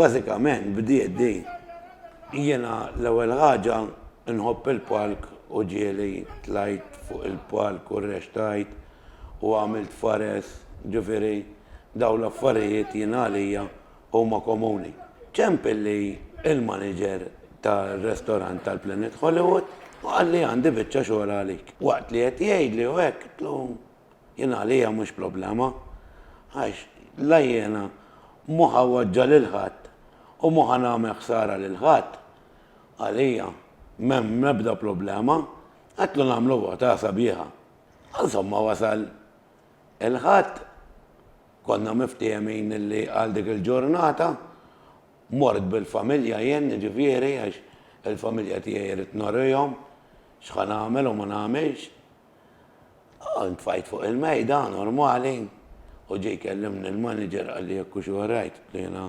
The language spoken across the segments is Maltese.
Bażikament bdiet din. Jiena l-ewwel ħaġa nħobb il-palk u ġieli tlajt fuq il-palk u rrextajt u għamilt fares, ġifieri dawn l-affarijiet jien għalija huma komuni. Ċemp illi l-maniġer tar-restorant tal-Planet Hollywood u qalli għandi biċċa xogħol għalik. Waqt li qed jgħidli u hekk, qtlu, Jien għalija mhux problema, għax la jiena mhu ħa waġġa' lil ħadd u mhu ħa nagħmel ħsara lil ħadd, għalija m'hemm l-ebda problema, għedtlu nagħmlu vota sabiħa. Insomma wasal il-Ħadd, konna miftehmin li għal dik il-ġurnata mort bil-familja jien jiġifieri għax il-familja tiegħi rrid norihom x'ħa nagħmel u ma nagħmilx. U ntfajt fuq il-mejda, normali, u ġie jkellimni l-manager qalli jekk hux all right, qed jiena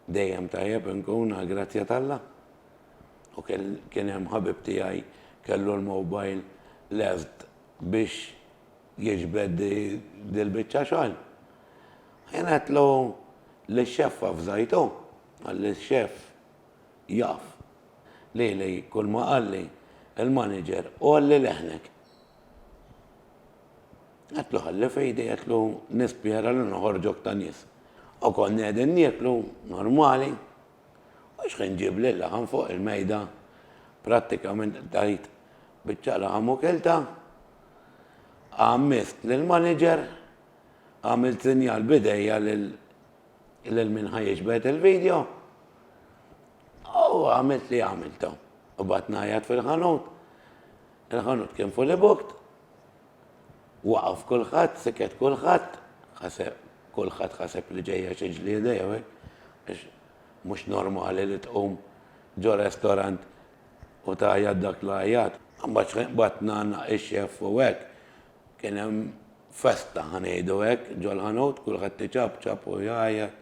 dejjem tajjeb inkun għall-grazzja t'Alla. U kien hemm ħabib tiegħi kellu l-mobile lest biex jiġbed dil-biċċa xogħol. Jien għedtlu lix-xeffa f'żajtu, qalli x-xeff, Jaf. Lili kulma qalli l-manager għolli leħnek. Għedtlu ħalli f'idi għedtlu nispjera li noħorġok ta' nies. U konna qegħdin nieklu normali u xħin ġieb lill-laħam fuq il-mejda prattikament tajt biċċa laħam u kiltha. Għammist lill-manager, għamilt sinjal b'idejja lil Lil min ħa jiġbed il-video? U għamilt li għamiltu. U bat najat fil-ħanut. Il-ħanut kien fully booked. Waqaf kulħadd, siket kulħadd, ħaseb kulħadd ħaseb li ġejja xi ġlieda jew hekk. Għax mhux normali li tqum ġo restorant u tajja dak l-ajat. Mbagħad batna ix-xef u hekk. Kien hemm festa, ħa ngħidu hekk, ġol-ħanut, kulħadd iċapċap u jgħajjat.